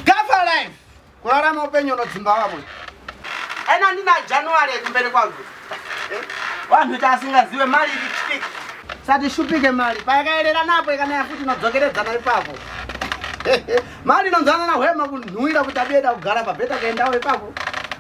Gafa life. Kurarama upenyu unodzimba vamwe. Ena ndina January kumberi kwangu. Eh? Vanhu tasingaziwe mali ichipika. Sati shupike mali. Payakaerera napo ikanaya futi inodzokeredzana ipapo. mali inonzana na hwema kunhuira kuti abiyeda kugara pabheta kaendawo ipapo.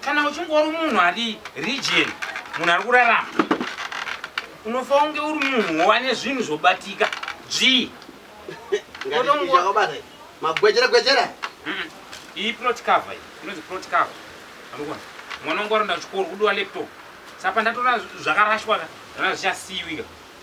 kana uchingori munhu ari region munhu ari kurarama unofa unge uri munhu wane zvinhu zvobatika dzvii magwejera gwejera iyi plot cover inonzi plot cover anokona mwana wangu aronda chikoro kudiwa laptop saka ndatora zvakarashwa ka zvana zvichasiiwika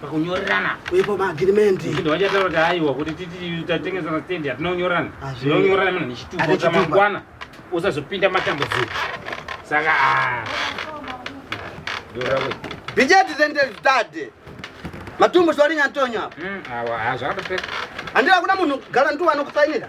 pakunyorerana ipo maagirimendi zvinhu vachataura kuti aiwa kuti titi tatengesana stendi hatinonyorana tinonyorana muna nechituko chamangwana usazopinda matambudziko saka ah. bijeti zendezitade matumbu zvarinyatonya hmm, awa hazvakatopeka handira kuda munhu gara ndiwanokusainira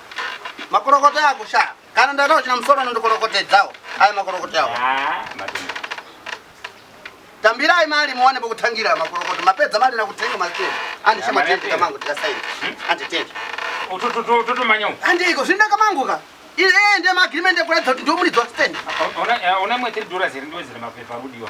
Makorokota ako sha. Kana ndada uchina musoro nondokorokotedzawo. Ayo makorokota yawo. Ah, madumbu. Tambirai mali muone pokutangira makorokota. Mapedza mali na kutenga maziteni. Andi shema tende kamangu tikasaini. Hmm? Andi tende. Utututu tutu manyo. Andi iko zvinda kamangu ka. Ile ende ma agreement ekuratidza kuti ndio muri dzwa stand. Ona ona mwetiri dora ziri ndo ziri mapepa rudiwa.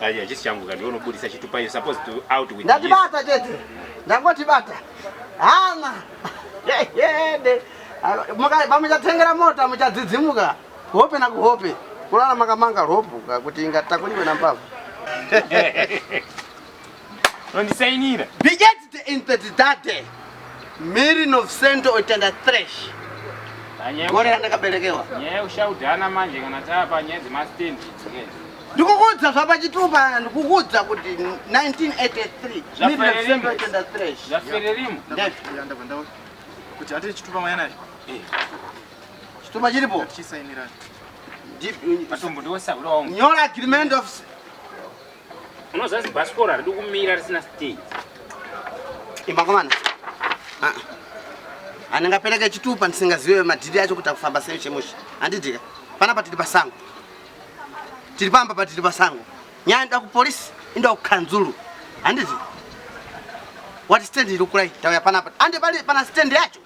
Aya chisi changu kandiwe unobudisa chitupa you supposed to out with Ndati bata chete. Ndangoti bata. Hana. Yende. Muka bamuchatengera mota muchadzidzimuka. Hope na kuhope. Kulala makamanga ropu kuti ingatakuliwe na mbavu. Nondisainira. Be edit in the date. Miri no sento otenda thresh. Gore randakaberekewa. Nyaya ushaudana manje kana tapa nyaya dzemastand dzikenda. Ndikukuudza zvapa chitupa ndikukuudza kuti 1983 miri no sento otenda thresh. Zvafererimo. Ndef. Kuti atiri chitupa mwana. Eh. Chitupa chiripo. Chisainira. Nyora agreement of Unoziva zibhasikoro haridi kumira risina stage. Imakomana. Ah. Anengapereke chitupa ndisingazive madhiri acho kuti akufamba sei chemusha. Handidika. Pana patiri pasango. Tiri pamba patiri pasango. Nyaya nda kupolisi inda kukanzuru. Handiti? What stand iri kurai? Tauya pana apa. Ande pali pana stand yacho.